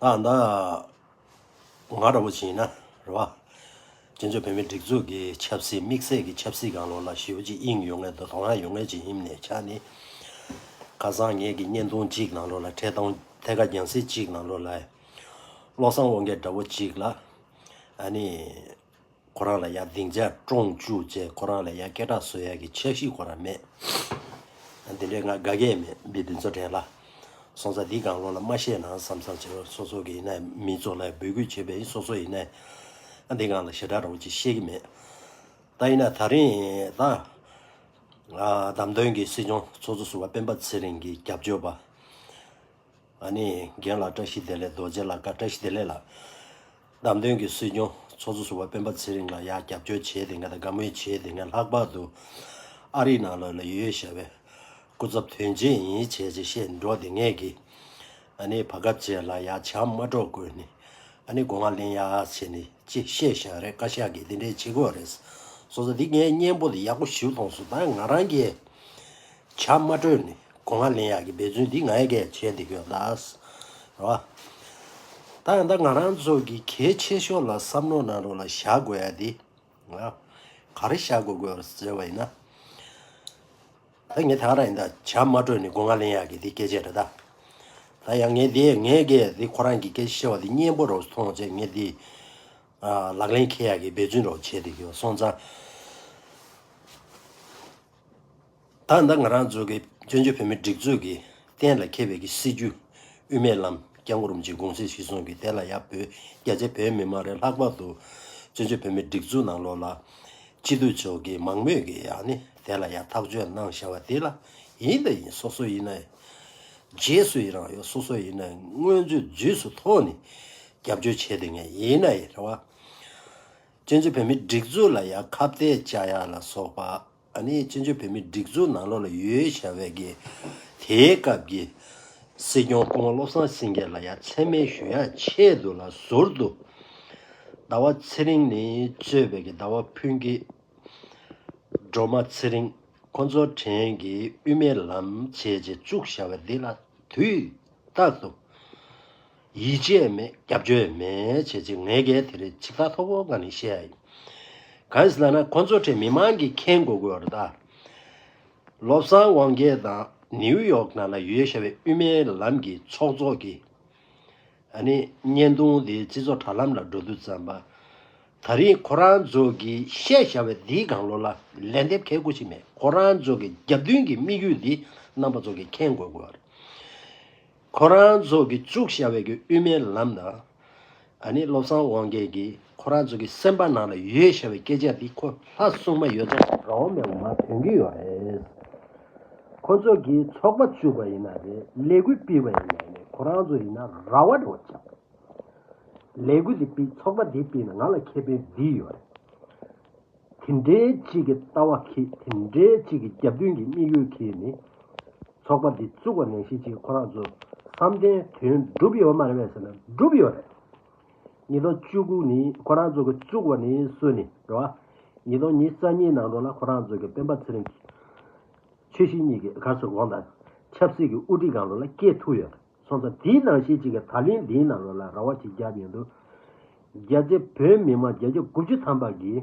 ཨ་མདའ། ང་ར་བོ་ཆེ་ཡིན་ན་རེད་བ། བཙན་བྱོལ་བོད་མིའི་སྒྲིག་འཛུགས་ཀྱི་ཆབ་སྲིད་དམིགས་བསལ་གྱི་ཆབ་སྲིད་གང་ལོག་ལ་ཞིའོ་ཅི་དབྱིང་ཡོད་ངེས་དང་ཀྲོང་ཧྭ་ཡོད་ངེས་ཀྱི་དབྱིམ་ནས་ཆ་ནི། ཁ་བཟང་ངེས་ཀྱི་བརྙན་ཐུང་གཅིག་ནང་ལོག་ལ་འཕྲད་སྟངས་ཐད་ཀ་རྒྱང་བསྲིངས་གཅིག་ནང་ལོག་ལ། བློ་བཟང་དབང་རྒྱལ་འདྲ་བོ་གཅིག་ལ། ཨ་ནི། ཁོ་རང་ལ་ཡ་སྡིངས་ཆ་བཀྲོངས་བཅུག་བཅས་ཁོ་རང་ལ་ཡ་སྐད་གྲགས་བཟོ་ཡ་གི་ཆགས་གཞི་ཁོ་རང་མེད། དེ་འདྲའི་ང་དགའ་སྐད་མེད་འབི་འདི་ཚོ་དྲན་ལ། སོང་ཙང་འདི་གང་ལོག་ལ་མ་བཤད་ན་བསམ་བསམ་བྱེད་པ་སོ་སོ་གི་ཡིན་ན་མི་ཚོ་ལ་འབོད་སྐུལ་བྱེད་པའི་སོ་སོ་ཡིན་ན། འདི་གང་ལ་ཞེ་དྲག་རོགས་ཅིག་ཤེས་ཀྱི་མེད། ད་ཡིན་ན་ད་རིང་ད། བདམས་ཐོན་གྱི་སྲིད་སྐྱོང་ཚོགས་གཙོ་ཟུར་བ་སྤེན་པ་ཚེ་རིང་གི་རྒྱབ་སྐྱོར་པ། ཨ་ནི་རྒན་ལགས་བཀྲ་ཤིས་བདེ་ལེགས་རྡོ་རྗེ་ལགས་བཀའ་བཀྲ་ཤིས་བདེ་ལེགས་ལགས། བདམས་ཐོན་གྱི་སྲིད་སྐྱོང་ཚོགས་གཙོ་ཟུར་བ་སྤེན་པ་ཚེ་རིང་ལགས་ཡག་རྒྱབ་སྐྱོར་བྱས་དེ་ང་དང་དགའ་མོས་བྱས་དེ་ང་ལྷག་པར་དུ་ཨ་རིའི་ནང་ལོག་ནས་ཡོད་ཡོད་ཞེས་པའི་སྐུ་ཚབ་དོན་ཆེན་ཡིན་ཡིན་བྱས་བྱས་བཤད་འགྲོ་དེ་ངས་གི་ཨ་ནི་བ་གབ་བྱས་ལ་ཡག་བྱམས་མ་སྒྲོག་དགོས་ནི་ཨ་ནི་དགོངས་ང་གླེང་ཡག་བྱས་ནི་ཅི་བཤད་བཞག་རེད་བཀའ་ཤག་གི་དེ་འདྲའི་བྱེད་དགོས་རེད་སོ་སོ་དེ་ངའི་སྙན་པོ་དེ་ཡག་པོ་ཞིབ་ཐོངས་སུ་ད་ང་རང་གི་བྱ་མ་སྤྲོད་ནས་སྒོ་ང་ལེན་ཡག་གི་འབད་བརྩོན་འདི་ང་ཡས་ཀས་བྱས་འདི་ཡོད་ད། རེད་བ། ད་ཡང་ད་ང་རང་ཚོ་གི་གལ་ཆེ་ཤོས་ལ་བསམ་མནོ་གནང་རོགས་ལ་བཞག་དགོས་ཡ་འདི། ག་རེ་བཞག་དགོས་དགོས་བར་ཟེར་བ་ཡིན་ན། ད་ངས་ད་ག་ར་ཡིན་ད་བྱ་མ་སྤྲོད་ནས་སྒོ་ང་ལེན་ཡག་གི་འདི་སྐད་ཆ་རེད་ད། ད་ཡང་ངས་འདི་ངས་ཀས་འདི་ཁོ་རང་གི་སྐད་ཆ་བཤད་བ་འདི་སྙན་པོ་རོགས་ཐོང་བྱས་ངས་འདི། ལག་ལེན་འཁེལ་ཡག་གི་འབད་བརྩོན་རོགས་བྱས་འདི་ཡོད་སོང་ཙང། ད་ལྟ་ང་རང་གཙོས་ཀྱི་བཙན་བྱོལ་བོད་མིའི་སྒྲིག་འཛུགས་ཀྱིས་གཏན་ལ་འཁེལ་བའི་ཀྱི་སྲིད་ཇུས་དབུ་མའི་ལམ་རྐྱང་གོ་རིམ་ཅན་དགོངས་སེལ་ཞིག་སོང་གི་དེ་ལ་ཡང་བོད་རྒྱ་ཆེ་བོད་མི་མང་རེ་ལྷག་པར་དུ་བཙན་བྱོལ་བོད་མིའི་སྒྲིག་འཛུགས་ནང་ལོགས་ལ། སྤྱི་འཐུས་མཆོག་གིས་མང་མོས་ཀྱིས་ཡང་ནི་དེ་ལ་ཡང་ཐག་གཅོད་གནང་བཞག་པ་དེ་ལ་ཡིན་ད་ཡིན་སོ་སོ་ཡིན་ན་རྗེས་སུ་ཡི་རང་ཡོད་སོ་སོ་ཡིན་ན་དངོས་གཙོའི་རྫུས་སུ་ཐོག་ནས་རྒྱབ་སྐྱོར་བྱས་དེ་ངས་ཡིན་ན་ཡི་རང་བ། བཙན་བྱོལ་བོད་མིའི་སྒྲིག་འཛུགས་ལ་ཡང་ཁ་བརྡའི་བཅའ་ཡག་ལ་སོགས་པ། ཨ་ནི་བཙན་བྱོལ་བོད་མིའི་སྒྲིག་འཛུགས་ནང་ལོགས་ལ་ཡོད་བྱ་བའི་གི། དེའི་སྐབས་ཀྱི། སྲིད་སྐྱོང་སྐུ་ངོ་བློ་བཟང་སེང་གེ་ལ་ཡ་མཚན་སྨད་ཞུ་ཡག་ཆེད་དུ་ལ་ཟུར་དུ། ཟླ་བ་ཚེ་རིང་ནི་གཙོས་པའི་གི་ཟླ་བ་ཕུན་སྐྱིད། སྒྲོལ་མ་ཚེ་རིང་ཁོ་ཚོ་དྲན་གི་དབུས་མའི་ལམ་བྱེད་ཅེས་བཙུགས་བྱ་བ་འདི་ལ་དུས་རྟག་ཏུ། ཡིད་ཆེས་མེད་སྐྱབས་བཅོལ་མེད་བྱས་ཚེ་ངས་གལ་དེ་རིགས་ཕྱི་ཐག་ཐོག་པོ་གང་ནས་བཤད་ཡ་ཡིན། གང་ཞིག་ལགས་ན་ཁོ་ཚོ་ཁྲི་མི་མང་གིས་མཁྱེན་དགོས་དགོས་རེད་ད། བློ་བཟང་དབང་རྒྱལ་དང་ནིའུ་ཡོག་ནང་ལ་ཡོད་ཤ་བའི་དབུས་མའི་ལམ་གྱི་ཚོགས་གཙོ་གིས་ཨ་ནི་བརྙན་ཐུང་དེ་སྤྱི་ཚོགས་དྲ་ལམ་ལ་འགྲོ་དུས་ཙམ་པ། ད་རིང་ཁོ་རང་ཚོ་གིས་བཤད་ཤ་བའི་འདིའི་སྒང་ལོ་ལ་ལན་འདེབས་མཁས་དགོས་ཞིག་མེད་ཁོ་རང་ཚོ་གི་རྒྱབ་མདུན་གྱི་དམིགས་ཡུལ་འདི་རྣམ་པ་ཚོ་གིས་མཁྱེན་དགོས་དགོས་རེད། ཁོ་རང་ཚོ་གི་བཙུགས་བཞག་བའི་གི་དབུས་མའི་ལམ་དང། ཨ་ནི་བློ་བཟང་དབང་རྒྱལ་གི་ཁོ་རང་ཚོ་གི་སེམས་པ་ནང་ལ་ཡོད་བཞག་བའི་སྐད་ཆ་དེ་ཁོ་ལྷ་སྲུང་མ་ཡོད་ཚོ་རང་འོ་མའི་འོ་མ་དོན་གི་ཡོད་རེད། ཁོ་ཚོ་གི་ཚོགས་པ་བཙུགས་པ་ཡིན་ན་རེད་ལས་འགུལ་སྤེལ་བ་ཡིན་ན་རེད་ཁོ་རང་ཚོ་ཡིན་ན་ར་བ་རེད་བ་ཆགས་པས། ལས་འགུལ་དེ་སྤེལ་ཚོགས་པ་དེ་སྤེལ་ན་ང་ལ་ཁེ་ཕན་འདི་ཡོད་རེད། དེ་འདྲའི་གཅིག་གི་ལྟ་བ་གིས་དེ་འདྲའི་གཅིག་གི་རྒྱབ་མདུན་གྱི་དམིགས་ཡུལ་གྱིས་ནི། ཚོགས་པ་འདི་བཙུགས་པ་ནས་གཞི་གཅིག་ཁོ་རང་ཚོ་བསམ་གཏན་དོན་བསྒྲུབས་ཡོད་མ་རེད་བས་ཟེར་ན་བསྒྲུབས་ཡོད་རེད། ཉིས་སྟོང་བཅུ་དགུ་ནི་ཁོ་རང་ཚོ་གི་བཙུགས་པ་ནི་སུ་ནི་རེད་བ། ཉིས་སྟོང་ཉིས་རྩ་གཉིས་ནང་དུ་ལ་ཁོ་རང་ཚོ་གི་སྤེན་པ་ཚེ་རིང་གིས། ཆོས་ཞི་གཉིས་ཀྱི་གར་སོ་གོང་དང་ཆབ་སྲིད་ཀྱི་དབུ་ཁྲིད་སྒང་དུ་ལ་སྐྱེལ་ཐུབ་ཡོད་རེད། སོང་ཙང་དེའི་ནང་ཤེས་གཅིག་གིས་ད་ལན་འདིའི་ནང་ལོག་ལ་ར་བ་ཅིག་བརྒྱབ་ཡོད་འདུག་རྒྱལ་སྤྱི་བོད་མི་མང་བརྒྱད་ཅུ་དགུ་བཅུ་ཐམ་པ་གིས་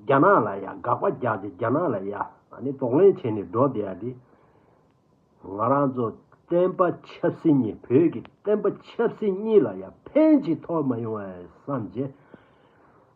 རྒྱ་ནག་ལ་ཡ་དགག་པ་རྒྱག་སྟེ་རྒྱ་ནག་ལ་ཡ་ནི་དོགས་ལན་བྱས་ནས་འགྲོ་བསྡད་ཡ་དེ། ང་རང་ཚོ་བསྟན་པ་ཆབ་སྲིད་གཉིས་བོད་ཀྱི་བསྟན་པ་ཆབ་སྲིད་གཉིས་ལ་ཡ་ཕན་ཅི་ཐོག་མ་ཡོང་བ་བསམ་རྗེས།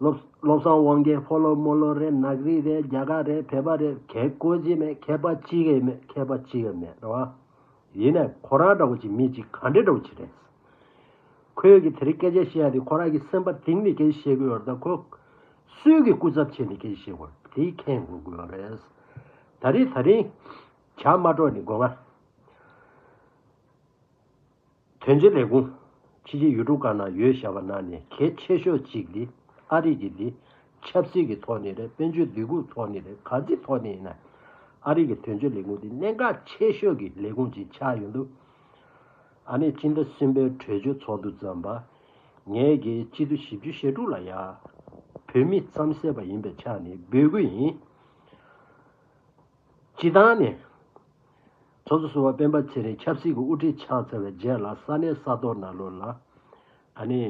བློ་བཟང་དབང་རྒྱལ་ཕོ་ལོ་རྨོ་ལོ་རེད་ནག་རིག་རེད་རྒྱ་གར་རེད་བལ་པ་རེད་གལ་དཀོན་ཅི་མེད་མཁས་པ་ཅི་ཡི་མེད་མཁས་པ་ཅི་ཡི་མེད་རེད་བ། ཡིན་ནས་ཁོ་རང་འདྲ་བོ་ཅིག་མི་ཅིག་ག་འདྲས་འདྲ་བོ་ཅིག་རེད། ཁོས་གི་དེ་རིགས་སྐད་ཆ་བཤད་ཡ་དེ་ཁོ་རང་གི་སེམས་པ་དེང་ནས་སྐད་ཆ་བཤད་དགོས་ཡོད་རེད་ད་ཁོ། སུས་གི་སྐུ་ཚབ་བྱས་ནས་སྐད་ཆ་བཤད་དགོས་རེད་དེ་ཁས་འགོ་དགོས་ཡོད་རེད། ད་རེས་ད་རིང། བྱ་མ་སྒྲོག་ནི་དགོས་ང། དོན་གཅོད་ལས་ཁུངས། ཕྱི་རྒྱལ་ཡུལ་གྲུ་འགའ་ན་ཡོད་བཞག་པ་ན་ནི་གལ་ཆེ་ཤོས་གཅིག་འདི་ཨ་རིག་གི་འདི། ཆབ་སྲིད་ཀྱི་ཐོག་ནས་རེད་དཔོན་ཆོས་སྡེ་ཁུག་ཐོག་ནས་རེད་ག་ཅི་ཐོག་ནས་ཡིན་ན། ཨ་རིག་གི་དོན་གཅོད་ལས་ཁུངས་འདི་གནད་འགག་ཆེ་ཤོས་ཀྱི་ལས་ཁུངས་ཅིག་ཆགས་ཡོད་འདུག་ཨ་ནི་སྤྱི་ཟླ་གསུམ་པའི་གྲོས་ཆོད་ཚོགས་འདུ་བརྩམས་པ། ངས་རྒྱལ་སྤྱི་ཟླུ་བཞི་བཅུ་ཞེ་དྲུག་ལ་ཡ། བོད་མི་རྩམ་ཟད་པ་ཡིན་པའི་ཆ་ནས་འབོད་སྐུལ་ཡིན། སྤྱི་བཏང་ནས། ཚོགས་གཙོ་གསུམ་པ་སྤེན་པ་ཚེ་རིང་ཆབ་སྲིད་ཀྱི་དབུ་ཁྲིད་ཆགས་ཚར་བའི་རྗེས་ལ་ས་གནས་ས་ཐོག་ན་ལོ་ལ། ད་ནི།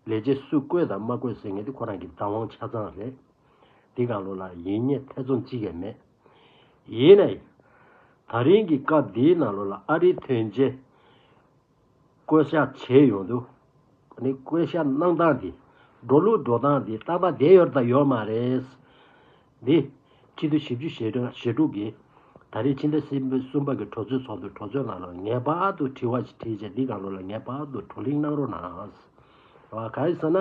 ལས་བྱེད་སུས་བསྐོས་དང་མ་བསྐོས་ཟེར་མཁན་དེ་ཁོ་རང་གི་བདག་དབང་ཆ་ཚང་རེད། འདི་གང་ལོ་ལ་ཡིན་རྙེད་ཐེ་ཚོམ་ཅི་ཡང་མེད། ཡིན་ནའི། ད་རིང་གི་སྐབས་འདིའི་ནང་ལོ་ལ་ཨ་རིའི་དོན་རྐྱེན། བཀོལ་བྱ་བྱས་ཡོད་འདུག་ད་ནི་བཀོལ་བྱ་གནང་སྟངས་དེ་འགྲོ་ལུགས་འགྲོ་སྟངས་དེ་རྟག་པར་བསྡད་ཡོད་དང་ཡོད་མ་རེད། འདི་ཕྱི་དྲོ་བཞི་བཅུ་ཞེ་དྲུག་གི་ད་རེས་ཕྱི་ཟླ་སེར་པོའི་གསུམ་པ་གི་གྲོས་ཚོགས་ཚོགས་འདུའི་གྲོས་ཚོགས་ནང་ལ་ངེས་པར་དུ་དྲི་བ་ཞིག་དྲིས་ཆ་འདི་གང་རུང་ལ་ངེས་པར་དུ་བགྲོ་གླེང་གནང་རོགས་གནང། བ་ག་ཡིན་ཟེར་ན།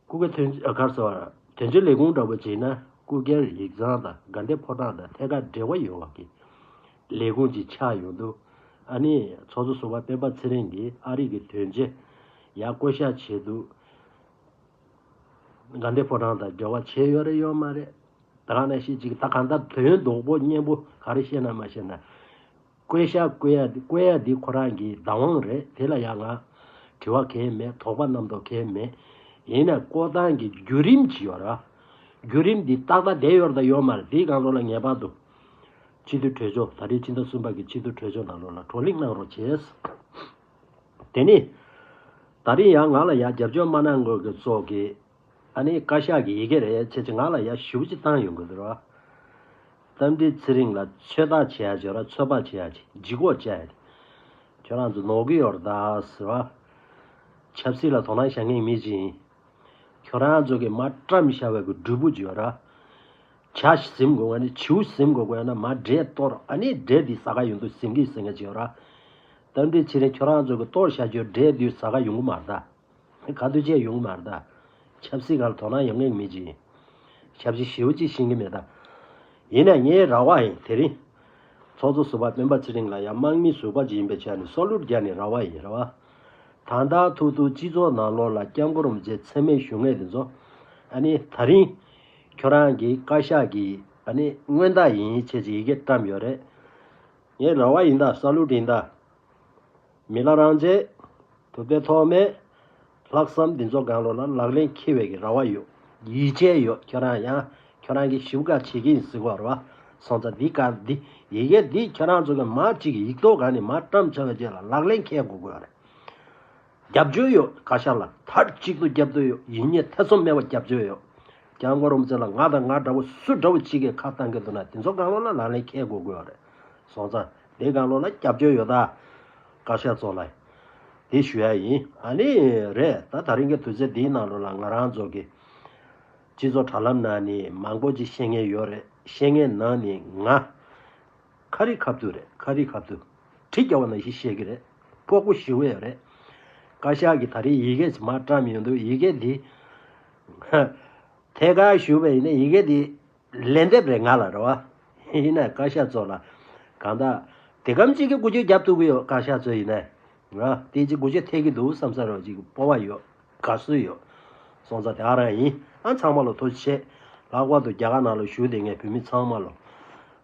སྐུ་སྒེར་དོན་གར་ཟེར་བ། དོན་གཅོད་ལས་ཁུངས་འདྲ་པོ་བྱས་ན་སྐུ་སྒེར་ཡིག་ཚང་དང་དགའ་འདེབས་ཕོ་བྲང་དང་ཐད་ཀར་འབྲེལ་བ་ཡོད་བ་གི་ལས་ཁུངས་ཅིག་ཆགས་ཡོང་འདུག་ཨ་ནི་ཚོགས་གཙོ་ཟུར་བ་སྤེན་པ་ཚེ་རིང་གིས་ཨ་རིག་གི་དོན་གཅོད་ཡག་བསྐོ་བཞག་བྱས་འདུག་དགའ་འདེབས་ཕོ་བྲང་དང་འབྲེལ་བ་བྱས་ཡོད་རེད་ཡོད་མ་རེད་ད་ག་ནས་ཤེས་ཅིག་ད་གང་ལྟར་དོན་རྡོག་པོ་སྙན་པོ་ག་རེ་བཤད་ན་མ་བཤད་ན། བསྐོས་ཤག་བསྐོས་ཡ་བསྐོས་ཡ་འདི་ཁོ་རང་གི་བདག་དབང་རེད་དེ་ལ་ཡ་ང་དྲི་བ་གས་མེད་དོགས་པ་རྣམ་རྟོག་གས་མེད་ཡིན་ནས་བསྐོ་སྟངས་གི་རྒྱུ་རིམ་ཇི་ཡོད་ར་རྒྱུ་རིམ་འདི་ཏག་ཏག་དེ་ཡོད་ར་ཡོད་མ་རེད་དེའི་གང་རོགས་ལ་ངེས་པར་དུ་སྤྱི་འཐུས་གྲོས་ཆོག་ད་རེས་ཕྱི་ཟླ་གསུམ་པ་གི་སྤྱི་འཐུས་གྲོས་ཆོག་ནང་ལོགས་ལ་བགྲོ་གླེང་གནང་རོགས་བྱས། དེ་ནས་ད་རེས་ཡ་ང་ལ་ཡ་རྒྱབ་སྐྱོར་མ་གནང་དགོས་གི་སོགས་ཀྱི། ཨ་ནི་བཀའ་ཤག་གི་ཡི་གེ་རེད་ཁྱེད་ཀྱི་ངག་ལ་ཡར་ཞུ་ཅིག་བཏང་ཡོང་གི་འདུག་ར། རྟ་མགྲིན་ཚེ་རིང་ལ་ཚོད་ལྟ་བྱེད་ཡ་ཆེ་ར་ཚོད་དཔག་བྱེད་ཡ་ཆེ་ལྗིད་གོག་བཅའ་ཡ་ཆེ། ཁྱོད་རང་ཚོ་ནོར་གི་ཡོར་ད་ཟེར་བ། ཆབ་སྲིད་ལ་དོ་སྣང་བྱ་མཁན་མི་ཅི་ཡིན། ཁྱོད་རང་ཚོ་གི་མ་བཀྲམ་ཤ་བའི་གི་འབྲུ་བུ་ཅིག་ཡོད་ར། བྱ་ཟིམ་དགོས་ང་ནི་བྱིའུ་ཟིམ་དགོས་དགོས་ཡ་ན་མ་འདྲེ་གཏོར་ཨ་ནི་འདྲེ་འདི་ཟ་ག་ཡོང་དུས་ཟིམ་གི་ཟིམ་ག་ཅིག་ཡོད་ར། རྟ་མགྲིན་ཚེ་རིང་ཁྱོད་རང་ཚོ་གི་གཏོར་བྱ་རྒྱུ་འདྲེ་འདུས་ཟ་ག་ཡོང་གི་མ་ར་ད། ག་དུས་བཅས་ཡོང་གི་མ་རེད་ད། ཆབ་སྲིད་གང་དོ་སྣང་ཡོང་མཁན་མེད་ཅི། ཞབས་ཕྱི་ཞེའུ་གཅིག་ཤིང་གི་མེད་ད། ཡིན་ནས་ངའི་ར་བ་ཡིན་དེ་རིང། ཚོགས་གཙོ་ཟུར་བ་སྤེན་པ་ཚེ་རིང་ལ་ཡང་དམག་མི་ཟུར་བ་གཅིག་ཡིན་པའི་ཆ་ནས་སྲོག་བླུ་རྒྱག་ནས་ར་བ་ཡིན་རེད་བ། ད་ལྟ་ཐུག་ཐུག་སྤྱི་ཚོགས་ནང་ལོག་ལ་སྐྱབས་འགོ་རུམ་རྗེས་འཚེ་མེད་ཞུ་ངེས་དེ་ཚོ། ཨ་ནི་ད་རིང། ཁྱོད་རང་གིས་བཀའ་ཤག་གིས་ཨ་ནི་སྔོན་བརྡ་ཡིན་ཡིན་ཆད་ཅིག་ཡི་གེ་བཀྲམས་ཡོད་རེད། ངའི་ར་བ་ཡིན་ད་ས་བླུ་ཡིན་ད། མི་ལ་རང་རྗེས་དུ་དཔེ་ཐོག་མེད། ལྷག་བསམ་འདི་ཚོ་དགང་བློ་ལ་ལག་ལེན་འཁེལ་བའི་གི་ར་བ་ཡོད་ཡིད་ཆེས་ཡོད་ཁྱོད་རང་ཡང་ཁྱོད་རང་གི་ཞིབ་དགའ་བྱེད་གི་ཡིན་གཟིགས་བར་བ་སོང་ཙ་འདི་གང་འདི་ཡི་གེ་འདི་ཁྱོད་རང་ཚོ་གི་མ་གཅིག་གི་ཡིག་ཐོག་གང་ནས་མ་བཀྲམ་བྱ་བའི་རྗེས་ལ་ལག་ལེན་འཁེལ་དགོ་དགོས་རེད་རྒྱབ་སྐྱོར་ཡོད་བཀའ་ཤག་ལ་མཐར་གཅིག་ཏུ་རྒྱབ་སྟོད་ཡོད་ཡིན་ཉེས་ཐེ་ཚོམ་མེད་བ་རྒྱབ་སྐྱོར་ཡོད་རྒྱ་མགོ་རུམ་ཙེ་ལ་ང་དང་ང་འདྲ་བོ་སུ་འདྲ་བོ་གཅིག་གི་ཁ་བཏང་གི་འདུག་ན་འདི་ཚོ་དགང་བློ་ལ་ལག་ལེན་འཁེལ་དགོ་དགོས་རེད་སོང་ཙ། དེ་གང་ལོག་ལ་སྐྱབས་བཅོལ་ཡོད་ད། བཀའ་ཤག་ཚོགས་ལ་དེ་ཞུ་ཡ་ཡིན། ཨ་ནི། རེད་ད་ད་རིང་གི་དུས་ཚོད་འདིའི་ནང་ལོག་ལ་ང་རང་ཚོ་གི། སྤྱི་ཚོགས་དྲ་ལམ་ནང་ནི་མང་པོ་ཅིག་ཤེས་ངེས་ཡོད་རེད་ཤེས་ངེས་ནང་ནི་ང། ཁ་རི་ཁ་བཏུ་རེད་ཁ་རི་ཁ་བཏུ། གྲི་རྒྱག་བ་ནང་བཞིན་ཤེས་གི་རེད། ཕོག་པོ་ཞི་བའི་རེད། བཀའ་ཤག་གི་ད་རིང་ཡི་གེ་ཇི་མ་བཀྲམ་ཡོད་འདུག་ཡི་གེ་འདི། ཧཧ། ཐད་ཀར་ཞུ་བའི་ཡིན་ན་ཡི་གེ་འདི། ལན་འདེབས་རེ་ང་ལ་རེ་བ། ཡིན་ནས་བཀའ་ཤག་གཙོ་ལ། གང་དག། དེ་གམ་གཅིག་གི་སྒུག་ཆོས་རྒྱབ་ཐུབ་གི་ཡོད་བཀའ་ཤག་གཙོ་ཡིན་ནས། ང། དེ་གཅིག་སྒུག་ཆོས་ཐེག་གི་འདུག་བསམ་ས་རོགས་གཅིག་སྤོ་བ་ཡོད། དགའ་བསུ་ཡོད། སོང་ཙང་དེ་ཨ་རང་ཡིན། ཨ་ཚང་མ་ལོ་ཐུགས་ཆེ། ལྷག་པར་དུ་རྒྱ་གར་ནང་ལ་བཞུགས་དེ་སྔའི་བོད་མི་ཚང་མ་ལོ།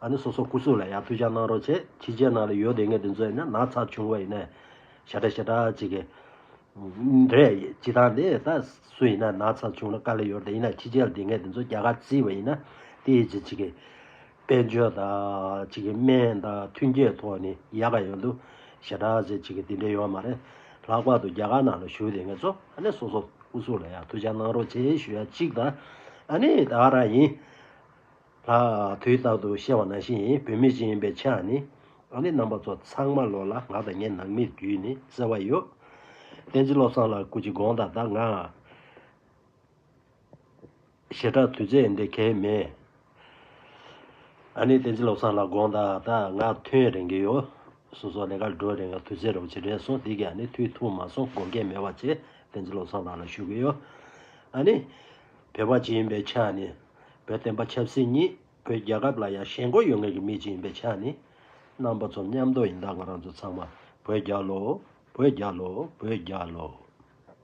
ཨ་ནི་སོ་སོ་སྐུ་གཟུགས་ལ་ཡག་ཐུགས་ཅག་གནང་རོགས་བྱེད་ཁྱི་རྗེ་ནང་ལ་ཡོད་དེ་སྔའི་དེ་ཚོ་ཡིན་ན་ནག་ཚགས་བྱུང་བ་ཡིན་ནས། ཞེ་དྲག་ཞེ་དྲག་གཅིག་གི། འདྲེ་ཇི་ལྟར་འདི་ལྟ་སུ་ཡིན་ན་ན་ཚ་བྱུང་ན་དཀའ་ལས་ཡོད་དེ་ཡིན་ན་ཕྱི་རྒྱལ་སྡེ་ངན་དེ་ཚོ་རྒྱ་གར་བརྩིས་བ་ཡིན་ན་དེའི་རྗེས་ཅིག་གི་དཔལ་འབྱོར་དང་ཅིག་གི་སྨན་དང་མཐུན་རྐྱེན་ཐོག་ནས་ཡག་ག་ཡོད་འདུག་ཞེ་དྲག་ཟེར་ཅིག་གི་དེ་འདྲས་ཡོད་མ་རེད། ལྷག་པར་དུ་རྒྱ་གར་ནང་ལ་བཞུགས་དེ་ངས་ཚོ་ཨ་ནི་སོ་སོ་སྐུ་གཟུགས་ལ་ཡང་ཐུགས་ཅག་གནང་རོགས་བྱས་ཞུ་ཡ་ཅིག་དང་ཨ་ནི་ད་རང་ཡིན། ལ། དུས་རྟག་ཏུ་ཤེས་བ་ནང་བཞིན་ཡིན་བུད་མེད་ཅིག་ཡིན་པའི་ཆ་ནི། ཨ་ནེ་རྣམ་པ་ཚོ་ཚང་མ་ལོ་ལ་ང་དང་ངའི་ནང་མིར་རྒྱུས་ནས་གསལ་བ་ཡོད། བསྟན་འཛིན་བློ་བཟང་ལགས་སྐུ་ཅི་དགོངས་དག་དག་ང། ཞེ་དྲག་དུས་ཚད་འདི་གལ་མེད། ཨ་ནེ་བསྟན་འཛིན་བློ་བཟང་ལགས་དགོངས་དག་དག་ང་ཐུན་རིང་གི་ཡོད། སོ་སོ་ལས་ཀར་འགྲོ་རིང་དུས་ཚད་རེ་བ་ཇི་དྲན་སོང་འདི་གའི་ཨ་ནེ་དུས་ཐུང་མ་སོང་དགོངས་འགལ་མེད་བ་བཅས་བསྟན་འཛིན་བློ་བཟང་ལགས་ལ་ཞུ་གི་ཡོད། ཨ་ནེ། བོད་པ་ཅིག་ཡིན་པའི་ཆ་ནི། བོད་བསྟན་པ་ཆབ་སྲིད་གཉིས་བོད་རྒྱལ་ཁབ་ལ་ཡང་ཞེན་སྒོ་ཡོད་ངེས་ཀྱི་མི་གཅིག་ཡིན་པའི་ཆ་ནས། རྣམ་པ་ཚོ་མཉམ་འདོགས་ཡིན་དྭགས་པ་རང་ཚོ་ཚང་མ་བོད་རྒྱལ་ལོ། བོད་རྒྱལ་ལོ། བོད་རྒྱལ་ལོ།